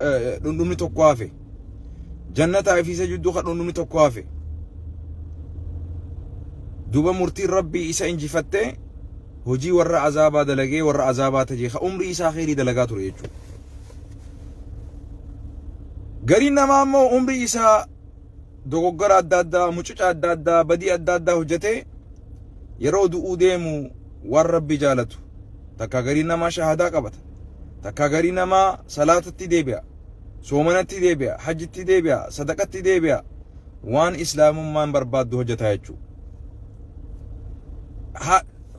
dhundhumni tokko hafe jannataa fi isa jidduu ka dhundhumni tokko hafe duba murtiin rabbii isa injifattee hojii warra azaabaa dalagee warra azaabaa tajee ka umrii isaa kheyrii dalagaa ture jechuudha. Gariin namaa immoo umrii isaa dogoggora adda addaa, mucuca adda addaa, badii adda addaa hojjetee yeroo du'uu deemu waan rabbi jaalatu takkaa garii namaa shahadaa qabata takkaa garii namaa salaatatti deebi'a soomanatti deebi'a hajjitti deebi'a sadaqatti deebi'a waan islaamummaan barbaaddu hojjetaa jechuudha.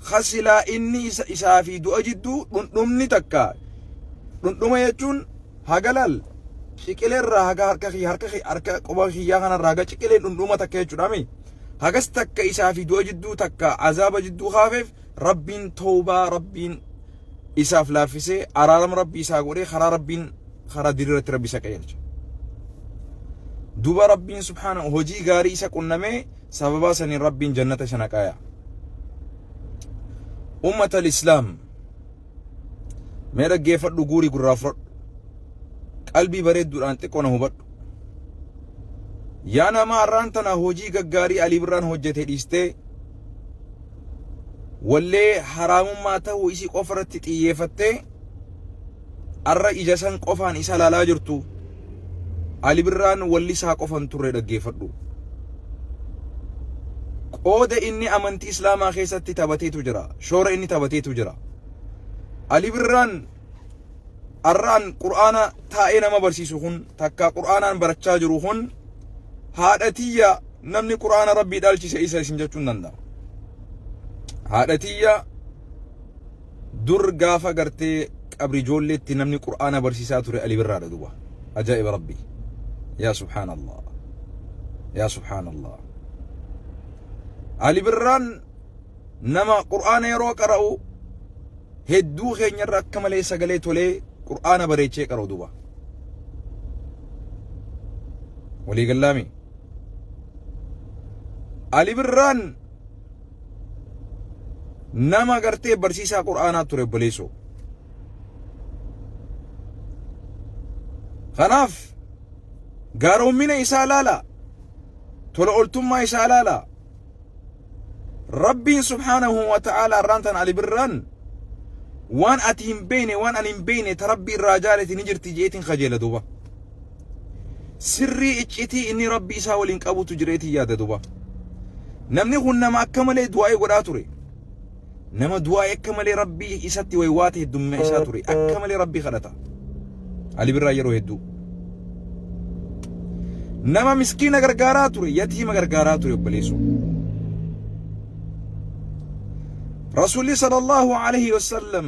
Hasilaa inni isaa fi du'a jidduu dhundhumni takka dhundhuma jechuun Haga laal ciqilee irraa haga harka kiyya harka kiyya harka quba kiyyaa kanarraa haga ciqilee dhundhuma takka jechuudha mi. Hagas takka isaa fi du'a jidduu takka azaaba jidduu kaafeef rabbiin toobaa rabbiin isaaf laaffisee araarama rabbii isaa godhee karaa rabbiin karaa diriiratti rabbi isa qajeelcha. Duba rabbiin subhaana hojii gaarii isa qunnamee sababaa saniin rabbiin jannata isa naqaaya. Ummata al-Islaam Mee dhaggeeffadhu guurii gurraa fudhadhu. Qalbii bareedduudhaan xiqqoo na hubadhu. Yaa namaa arraan tana hojii gaggaarii Alii Birraan hojjete dhiistee wallee haraamummaa ta'uu isii qofa irratti xiyyeeffattee arra ija san qofaan isa laalaa jirtu. Ali Birraan wallisaa qofan turre dhaggeeffadhu. Qooda inni amantii Islaamaa keessatti taphateetu jira. Shoora inni taphateetu jira. Ali Birraan arraan Qur'aana taa'ee nama barsiisu kun takka Qur'aanaan barachaa jiru kun haadha tiyya namni Qur'aana Rabbii dhaalchise isa isin jechuun danda'a. Haadha tiyya Dur gaafa gartee qabri ijoolleetti namni qur'aana barsiisaa ture Ali Birraadha duba. Ajaa'iba Rabbii. Yaa subhaanallah. Yaa subhaanallah. Ali Birraan nama qur'aana yeroo qara'u hedduu keenyarra akka malee sagalee tolee qur'aana bareechee qara'u duba. Walii gallaami. Ali Birraan Nama gartee barsiisaa Qur'aanaa ture obboleessoo. Kanaaf gaaroommina isaa laalaa tola oltummaa isaa laalaa Rabbiin subhaanahu wa ta'aalaa irraan tan Ali Birraan waan ati hin beeyne waan ani hin beeyne ta Rabbi irraa jaalati ni jirti jeetiin kajeela duuba. sirrii iccitii inni rabbi isaa waliin qabutu jireetii yaada duba namni kun nama akka malee du'aa'ee godhaa ture nama du'aa'ee akka malee rabbi isatti waywaata heddumina isaa ture akka malee rabbi kadhata ali birraa yeroo hedduu nama miskiina gargaaraa ture yatiima gargaaraa ture obboleessu rasuulli sallallahu alaihi wasallam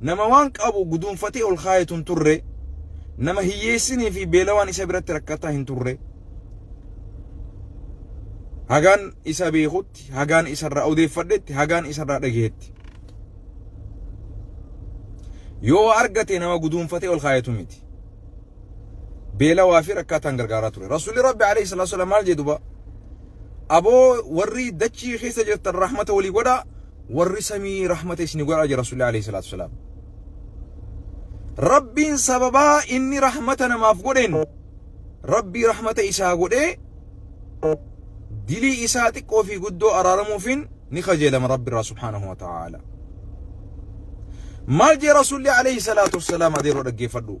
Nama waan qabu guduunfatee ol kaayetu hin turre. Nama hiyyeessinii fi beelawaan isa biratti rakkataa hin turre. Hagaan isa beekutti, hagaan isarraa odeeffadhetti, hagaan isarraa dhageetti. Yoo waa argate nama guduunfatee ol kaayetu miti. Beelawaa fi rakkataan gargaaraa ture. Rasuulli Rabbi alayhi salaatu salaam maal jedhu ba? Aboo warri dachii keessa jirtan rahmata walii godhaa. warri samii rahmata isni godha jira Rasuulli alayhi salaatu wasalaam. Rabbiin sababaa inni rahmata namaaf godheen Rabbii rahmata isaa godhee dilii isaa xiqqoo fi guddoo araaramuufiin ni kajeelama Rabbi irraa subhaanahu wa ta'aala. Maal jee Rasuulli alayhi salaatu wasalaam adeeroo dhaggeeffadhu.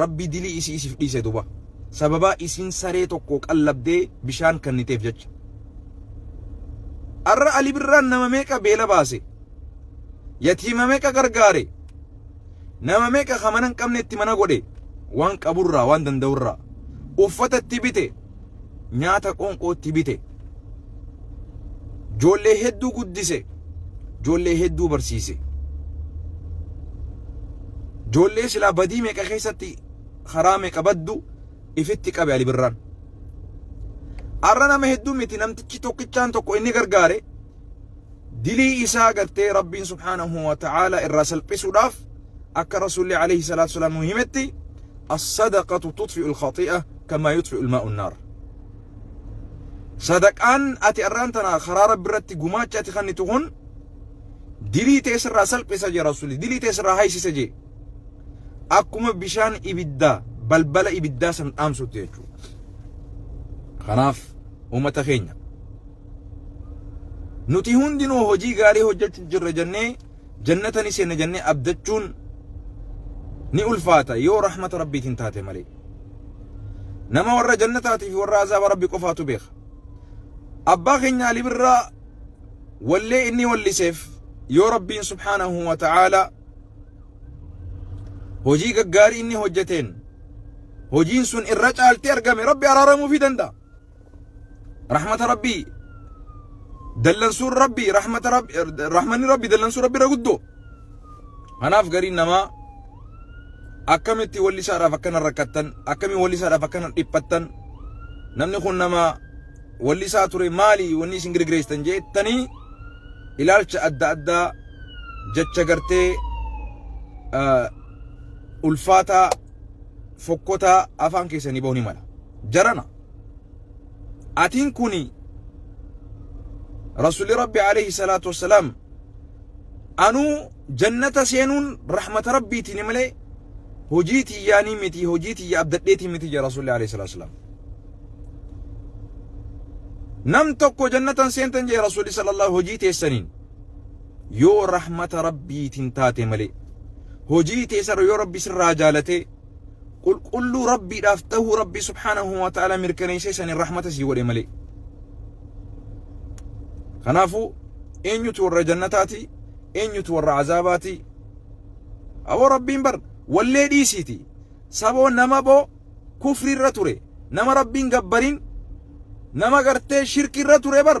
rabbi dilii isii isif dhiise duba sababaa isiin saree tokkoo qallabdee bishaan kanniteef jecha arra ali birraan nama meeqa beela baase yatiima meeqa gargaare nama meeqa ka mana hin qabnetti mana godhe waan qaburraa waan danda'urraa uffata itti bite nyaata qoonqootti bite joollee hedduu guddise joollee hedduu barsiise joollee silaa badii meeqa keessatti karaa meeqa baddu ifitti qabe ali birraan arra nama hedduu miti namtichi tokkichaan tokko inni gargaare dilii isaa gartee rabbiin subhaanahu wa ta'aala irraa salphisuudhaaf akka rasuulli alayhi salaatu salaam nu himetti as-sadaqatu tutfi'u al-khati'a kamaa yutfi'u al-maa'u an-naar sadaqaan ati arraan tana karaa rabbi irratti gumaacha ati kennitu kun dilii ta'e sirraa salphisa jee rasuulli dilii ta'e sirraa haysisa jee akkuma bishaan ibiddaa balbala ibiddaa san dhaamsutti jechuudha kanaaf ummata keenya Nuti hundinuu hojii gaarii hojjechuuf jirra jennee jannata ni seenna jennee abdachuun ni ulfaata yoo rahmata rabbiitiin taate malee. Nama warra jannataatii fi warra azaaba rabbi qofaatu beeka. Abbaa keenya Ali Birraa wallee inni walliseef yoo rabbiin subhaanahu wa ta'aala hojii gaggaarii inni hojjeteen hojiin sun irra caaltee argame rabbi araaramuufii danda'a. Rahmata Rabbii dallansuun Rabbii rahmata Rabbi rahmanni Rabbii dallansuu Rabbi irra guddoo. Kanaaf gariin namaa akkamitti walli isaadhaaf akkana rakkattan akkamiin walli isaadhaaf akkana dhiphattan namni kun nama walli isaa ture maali wanni isin girgireessan jettanii ilaalcha adda addaa jecha gartee ulfaataa fokkotaa afaan keessanii ba'uu ni mala jarana atiin kuni rasuli rabbi alayhi salaatu wassalaam anuu jannata seenuun rahmata rabbiitiin malee hojii tiyyaanii miti hojii tiyya abdadheetii miti jedha rasulli alayhi salaatu wassalaam nam tokko jannatan seentan jedhe rasulli sallallahu hojii teessaniin yoo rahmata rabbiitiin taate malee hojii teessarra yoo rabbi sirraa jaalatee qulqulluu rabbiidhaaf tahuu rabbii subhaanahu wa ta'ala mirkaneessee saniin rahmata sii godhe malee kanaafuu eenyutu warra jannataati eenyutu warra azaabaati aboo rabbiin bar wallee dhiisiiti saboo nama boo kufriirra ture nama rabbiin gabbariin nama gartee shirkiirra ture bar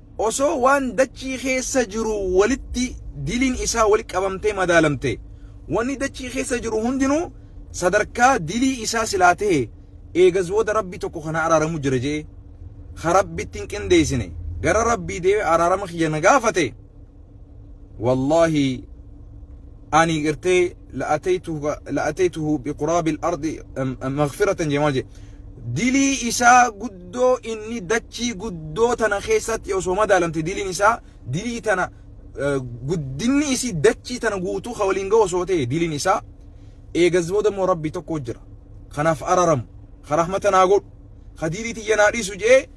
osoo waan dachii keessa jiru walitti diliin isaa wal qabamtee madaalamte wanni dachii keessa jiru hundinuu sadarkaa dilii isaa silaa ta'e eegas booda rabbi tokko kana araaramu jira jee ha rabbitti hin qindeessine gara rabbii deebi'ee araarama kiyya na gaafate wallaahi ani gartee la'ataytuhu biquraabi al-ardi maghfiratan jee maal jee dilii isaa guddoo inni dachii guddoo tana keessatti osoo madaalamte diliin isaa dilii tana guddinni isii dachii tana guutuu ka waliin ga'u osoo ta'e diliin isaa eegas booda immoo rabbi tokko jira kanaaf araramu ka rahmata naa godhu ka dilii tiyya naa dhiisu jee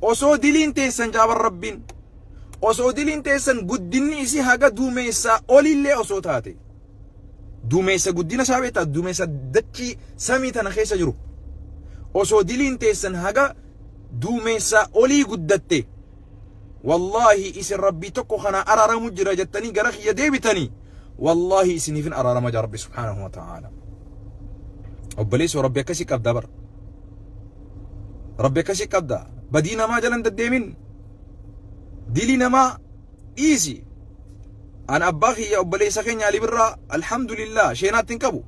osoo diliin teessan jaaban rabbiin osoo diliin teessan guddinni isii haga duumeessaa olillee osoo taate duumeessa guddina isaa beektaa duumeessa dachii samii tana keessa jiru osoo diliin teessan haga duumeessaa olii guddatte wallaahi isin rabbii tokko kana araaramu jira jettanii gara kiyya deebitanii wallaahi isiniifin araarama jira rabbi subhaanahu wa ta'aala obboleessoo rabbi akkasii qabda bara rabbi akkasii qabda badii namaa jalan deddeemin dilii namaa dhiisi an abbaa kiyya obboleessa keenya ali birraa alhamdulillah sheenaatti hin qabu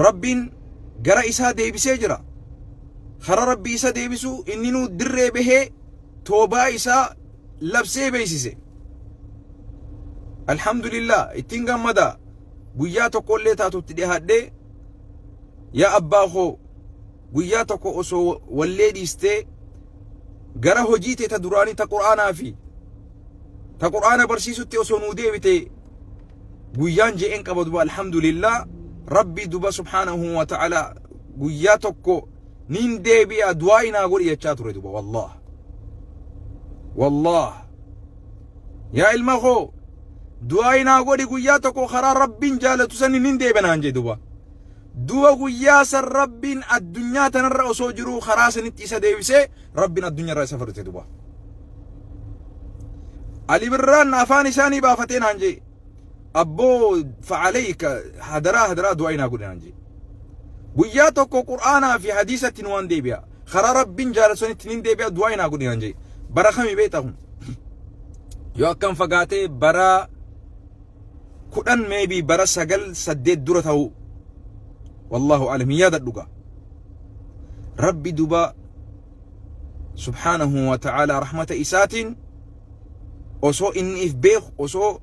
rabbiin gara isaa deebisee jira kara rabbi isa deebisu inninuu dirree bahee toobaa isaa labsee beeksise alhamdulillah ittiin gammada guyyaa tokkollee taatutti dhihaadhee yaa abbaa koo guyyaa tokko osoo wallee dhiistee gara hojii tee ta duraanii ta qur'aanaa fi ta qur'aana barsiisutti osoo nuu deebite guyyaan je'een qaba duba alhamdulillah rabbi duba subhaanahu wa ta'ala guyyaa tokko niin deebi'a du'aa inaa godhi jechaa ture duba wallah wallah yaa ilma koo du'aa inaa godhi guyyaa tokko karaa rabbiin jaalatu sani niin deebi'anaan jee duba duba guyyaa san rabbiin addunyaa tanarra osoo jiruu karaa sanitti isa deebisee Rabbin addunya irraa isa fudhate duba. Ali Birraan afaan isaa ni baafatee naan jee. Abboo fa'aleeyka hadaraa hadaraa du'aa inaa godhe naan jee. Guyyaa tokko Qur'aanaa fi hadiisatti nu waan deebi'a. Karaa Rabbiin jaalatanitti ni deebi'a du'aa inaa godhe naan jee. Bara kami beektaa kun? Yoo akkam fagaatee bara 10 maybe bara 9 8 dura ta'uu wallahu alam hin yaadadhu gaa rabbi duba subhaanahu wa ta'ala rahmata isaatiin osoo inni if beeku osoo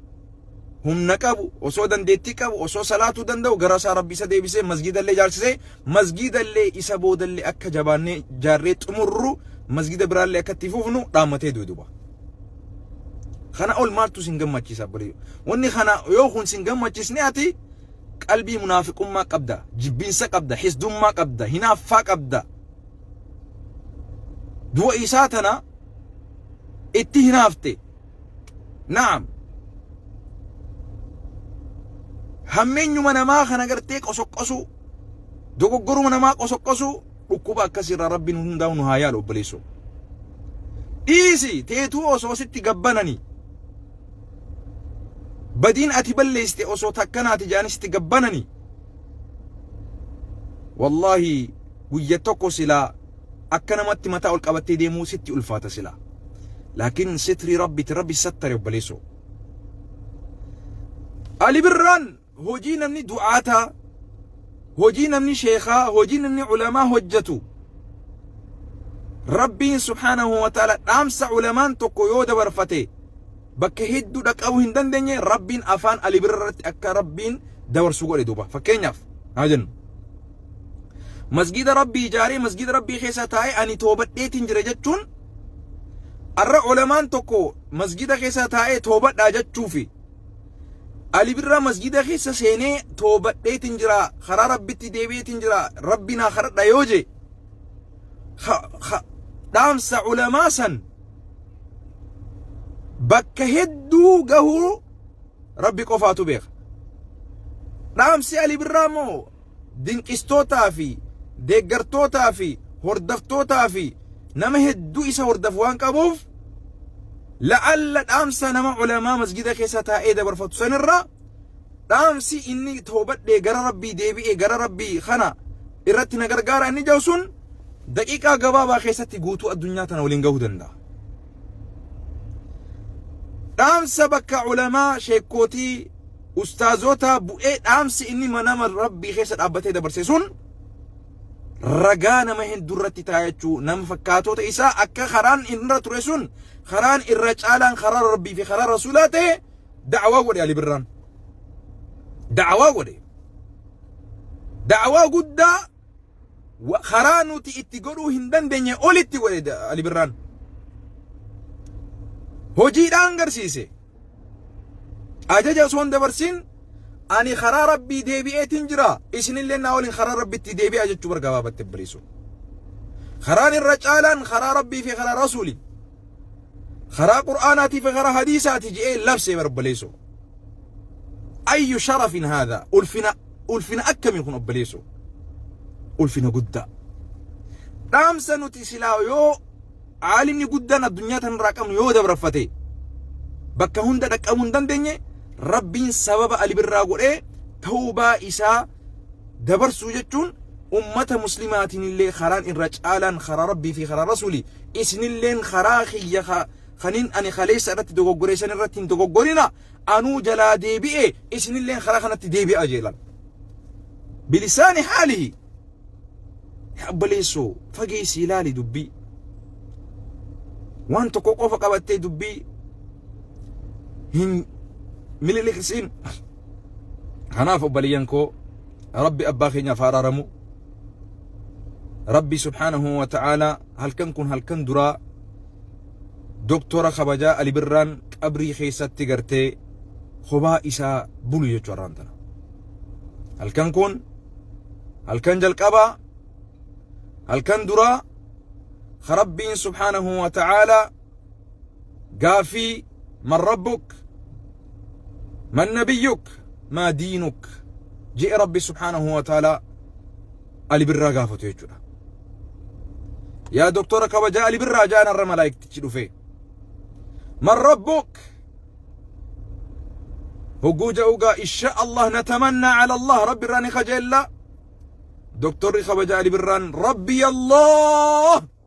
humna qabu osoo dandeettii qabu osoo salaatuu danda'u gara isaa rabbi isa deebisee masgiidallee jaarsisee masgiidallee isa boodallee akka jabaannee jaarree xumurru masgiida biraallee akka itti fufnu dhaammatee duuduba. Kana ol maaltu sin gammachiisa obboleeyyo. Wanni kana yoo kun sin gammachiisne ati qalbii munaafiqummaa qabda, jibbiinsa qabda, hisdummaa qabda, hinaaffaa qabda. Du'a isaa tana itti hinaafte. Naam. Hammeenyuma namaa kana gartee qosoqqosuu, dogoggoruma namaa qosoqqosuu, Dhukkuba akkasii irraa rabbiin hundaa'u nu haa yaalu obboleessoo. Dhiisi teetuu osoo sitti gabbananii. Badiin ati balleessite osoo takkanaati jedhanii sitti gabbananii. Wallaahi guyya tokko silaa akka namatti mataa ol qabattee deemuu sitti ulfaata silaa. Laakiin sitrii rabbitti rabbi sattare obboleessoo. Ali Birraan Hojii namni du'aataa, hojii namni sheekhaa, hojii namni ulamaa hojjatu, Rabbiin subhaanahu wa ta'aalaa dhaamsa ulamaan tokko yoo dabarfate bakka hedduu dhaqqabuu hin dandeenye Rabbiin afaan Ali Birra irratti akka Rabbiin dabarsu godhe duuba. Fakkeenyaaf haa jennu. Masgiida Rabbii ijaaree masgiida Rabbii keessa taa'ee ani toobadheetiin jira jechuun arra ulamaan tokko masgiida keessa taa'ee toobadhaa jechuufi Ali Birraa masjida keessa seenee toobadheetiin jira karaa rabbitti deebi'eetiin jira rabbi naa kadhadha yoo jee dhaamsa ulamaa san bakka hedduu gahuu rabbi qofaatu beeka dhaamsi Ali Birraa moo dinqistootaa fi deeggartootaa fi hordaftootaa fi nama hedduu isa hordafu waan qabuuf la'alla dhaamsa nama ulamaa masjida keessa taa'ee dabarfatu sanirra dhaamsi inni toobadhee gara rabbii deebi'ee gara rabbii kana irratti na gargaara inni jedhu sun daqiiqaa gabaabaa keessatti guutuu addunyaa tana waliin gahuu danda'a. Dhaamsa bakka ulamaa sheekkootii ustaazootaa bu'ee dhaamsi inni manama rabbii keessa dhaabbatee dabarse sun ragaa nama hedduu irratti taa'achuu nama fakkaatoota isaa akka karaan irra ture sun karaan irra caalaan karaa rabbii fi karaa rasuulaa ta'e da'awaa godhe Ali Birraan. Da'awaa godhe. Da'awaa guddaa wa- karaa nuti itti godhuu hin dandeenye olitti godhe da- Ali Birraan. Hojiidhaan garsiise. Ajaja osoo hin dabarsin ani karaa rabbii deebi'eetiin jira isinillee naa waliin karaa rabbitti deebi'aa jechuu bargaababatte bariisu. Karaan irra caalaan karaa rabbii fi karaa rasuuli. karaa qur'aanaatii fi karaa hadiisaati je'ee labsee bara obboleessoo ayyu sharafin haadha ulfina ulfina akkamii kun obboleessoo ulfina guddaa dhaamsa nuti silaa yoo aalimni guddaan addunyaa tanarraa qabnu yoo dabarfate bakka hunda dhaqqabuu hin dandeenye rabbiin sababa alibirraa godhee tawbaa isaa dabarsuu jechuun ummata muslimaatiin illee karaan irra caalaan karaa rabbii fi karaa rasuuli isinilleen karaa kiyya kanin ani kaleessa irratti dogoggoreessan irratti hin dogoggorina anuu jalaa deebi'e isinilleen karaa kanatti deebi'a jeelan bilisaani haalihi yaa obboleessoo fageessii ilaali dubbii waan tokko qofa qabattee dubbii hin miliqsiin kanaaf obbaliyyan koo rabbi abbaa keenyaaf haaraaramu rabbi subhaanahu wa ta'aalaa halkan kun halkan duraa doktora kabajaa alibirraan qabrii keessatti gartee hobaa isaa bulu jechuu arraan tana halkan kun halkan jalqabaa halkan duraa rabbiin subhaanahu wa ta'aalaa gaaffii man rabbuk man nabiyyuk maa diinuk je'e rabbi subhaanahu wa ta'ala ali birraa gaafatu jechuudha yaa doktora kabajaa ali birraa ja'an irra malaayiktichi dhufe man rabbuk hogguu ja'ugaa insha allah natamannaa ala allah rabbi irraa ni kajeellaa doktorri kabajaa ali birraan rabbi allah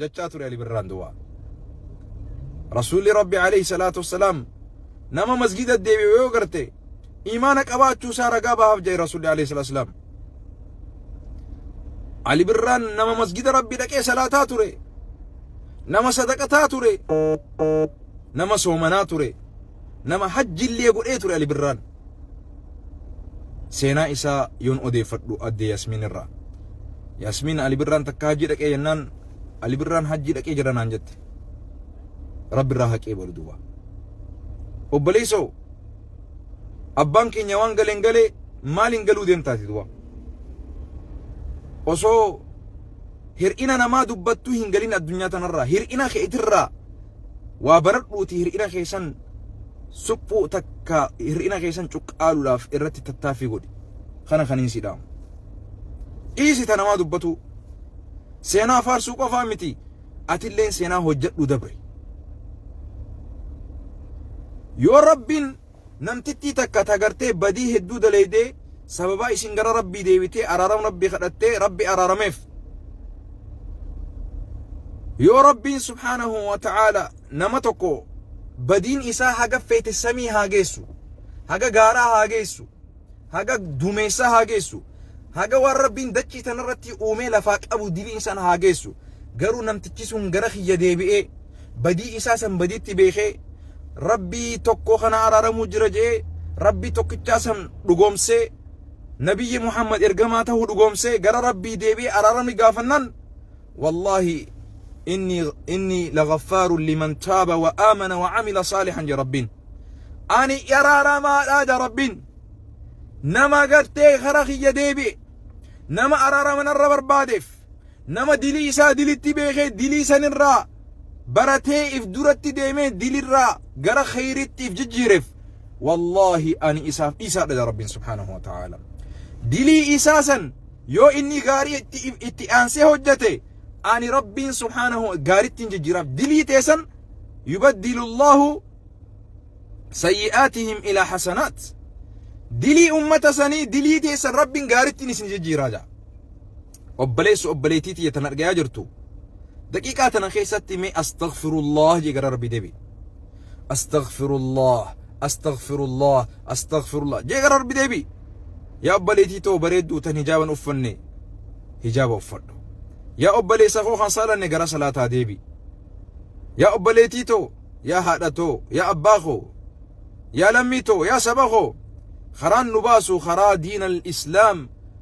jachaa ture Ali Birraan duwaa. Rasuulli Rabbi alayhi salaatu wassalaam nama masgida deebi'u yoo garte imaana qabaachuu isaa ragaa bahaaf jedhe Rasuulli alayhi salaatu wassalaam. Ali Birraan nama masgida Rabbi dhaqee salaataa ture. Nama sadaqataa ture. Nama soomanaa ture. Nama hajjillee godhee ture Ali Birraan. Seenaa isaa yoon odeeffadhu addee Yasmiin irraa. Yasmiin Ali Birraan takka hajjii dhaqee jennaan Ali Birraan hajjii dhaqee jira naan jette. Rabbi irraa haqee booda duuba. Obboleessoo abbaan keenya waan galeen galee maaliin galuu deemtaati duuba. Osoo hir'ina namaa dubbattuu hin galin addunyaa tanarraa hir'ina keetirraa waa baradhuuti hir'ina keessan suphuu takka hir'ina keessan cuqqaaluudhaaf irratti tattaaffii godhi. Kana kan hin sidhaamu. Dhiisi ta namaa dubbatuu. Seenaa faarsuu qofaa miti. Atilleen seenaa hojjedhu dabre. Yoo rabbiin namtittii takka tagartee badii hedduu daleeydee sababaa isin gara rabbii deebitee araaram rabbii kadhattee rabbi araarameef. Yoo rabbiin subhaanahu wa ta'aala nama tokko badiin isaa haga feete samii haa geessu haga gaaraa haa geessu haga dumeessaa haa geessu haga waan rabbiin dachii tanarratti uumee lafaa qabu diliin san haa geessu garuu namtichi sun gara kiyya deebi'ee badii isaa san badiitti beekee rabbii tokko kana araaramuu jira je'ee rabbii tokkichaa san dhugoomsee nabiyyi muhammad ergamaa ta'uu dhugoomsee gara rabbii deebi'ee araaramni gaafannaan Wallaahi inni inni laghaffaaru liman taaba wa aamana wa amila saalihan ja Rabbiin. Ani araaramaadha ja Rabbiin. Nama gartee kara kiyya deebi'e. Nama araarama narra barbaadeef. Nama dilii isaa dilitti beekee dilii sanirraa baratee if duratti deemee dilirraa gara kheyritti if jijjiireef. Wallaahi ani isaaf dhiisaadha ja Rabbiin subhaanahu wa ta'aala. Dilii isaa san Yoo inni gaarii itti, itti aansee hojjate, ani Rabbiin subhaanahu gaarittiin jijjiiraaf. Dilii teessan yubaddilu Allahu sayyi'aatihim ilaa hasanaat. Dilii ummata sanii dilii teessan Rabbiin gaarittiin isin jijjiiraa ja'a. Obboleessu obboleettii tiyya tan argayaa jirtu. Daqiiqaa tana keessatti mee astaghfirullah jee gara Rabbii deebi'i. astaghfirullah astaghfirullah astaghfirullah jee gara rabbi deebi yaa obboleetii too bareedduu tan hijaaban uffanne hijaaba uffadhu yaa obboleessa koo kan saalanne gara salaataa deebi yaa obboleetii too yaa haadha too yaa abbaa koo yaa lammii too yaa saba koo karaan nu baasu karaa diina islaam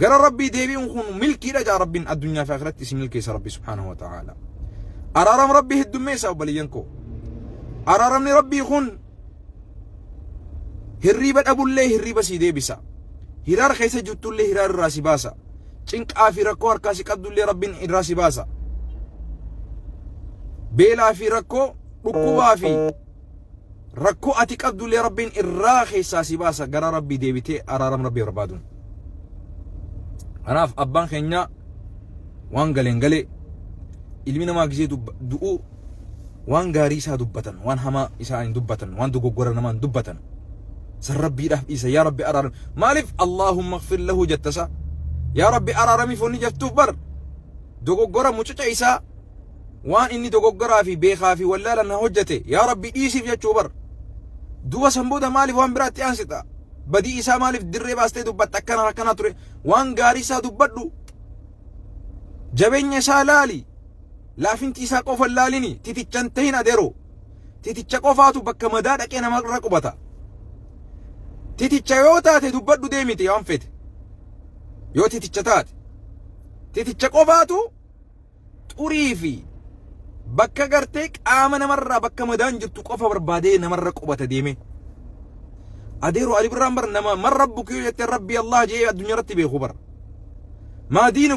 gara rabbii deebi'uun kun milkiidha jaa rabbiin addunyaa fi akhiratti isin milkeessa rabbi subhaanahu wa ta'aala araaram rabbii heddummeessa obboleeyyan koo araaramni rabbii kun hirriiba dhabullee hirriiba sii deebisa hiraar keessa jirtullee hiraar irraa si baasa cinqaa fi rakkoo harkaa si qabdullee rabbiin irraa si baasa beelaa fi rakkoo dhukkubaa fi rakkoo ati qabdullee rabbiin irraa keessaa si baasa gara rabbii deebitee araaram rabbii barbaaduun kanaaf abbaan keenyaa waan galeen galee ilmi namaa gisee du'uu waan gaarii isaa dubbatan waan hamaa isaa hin dubbatan waan dogoggora namaa hin dubbatan san rabbiidhaaf dhiisa yaa rabbi araaram maaliif allaahumma gfir lahu jettasa yaa rabbi araaramiif wanni jettuuf bar dogoggora mucuca isaa waan inni dogoggoraa fi beekaa fi wallaalan na hojjete yaa rabbi dhiisiif jechuu bar duba san booda maaliif waan biraatti aansita badii isaa maaliif dirree baastee dubbatta akkanaan akkanaa ture waan gaarii isaa dubbadhu jabeenya isaa laali laafinti isaa qofa laalini titichan tahin adeero titicha qofaatu bakka madaa dhaqee nama irra qubata titicha yoo taate dubbadhu deemite waan fete yoo titicha taate titicha qofaatu xurii fi bakka gartee qaama namarraa bakka madaan jirtu qofa barbaadee namarra qubata deemee. Adeero Ali Birraan bar nama man rabbuki yoo jette rabbii Allah jee addunyaa irratti beeku bar. Maa diinu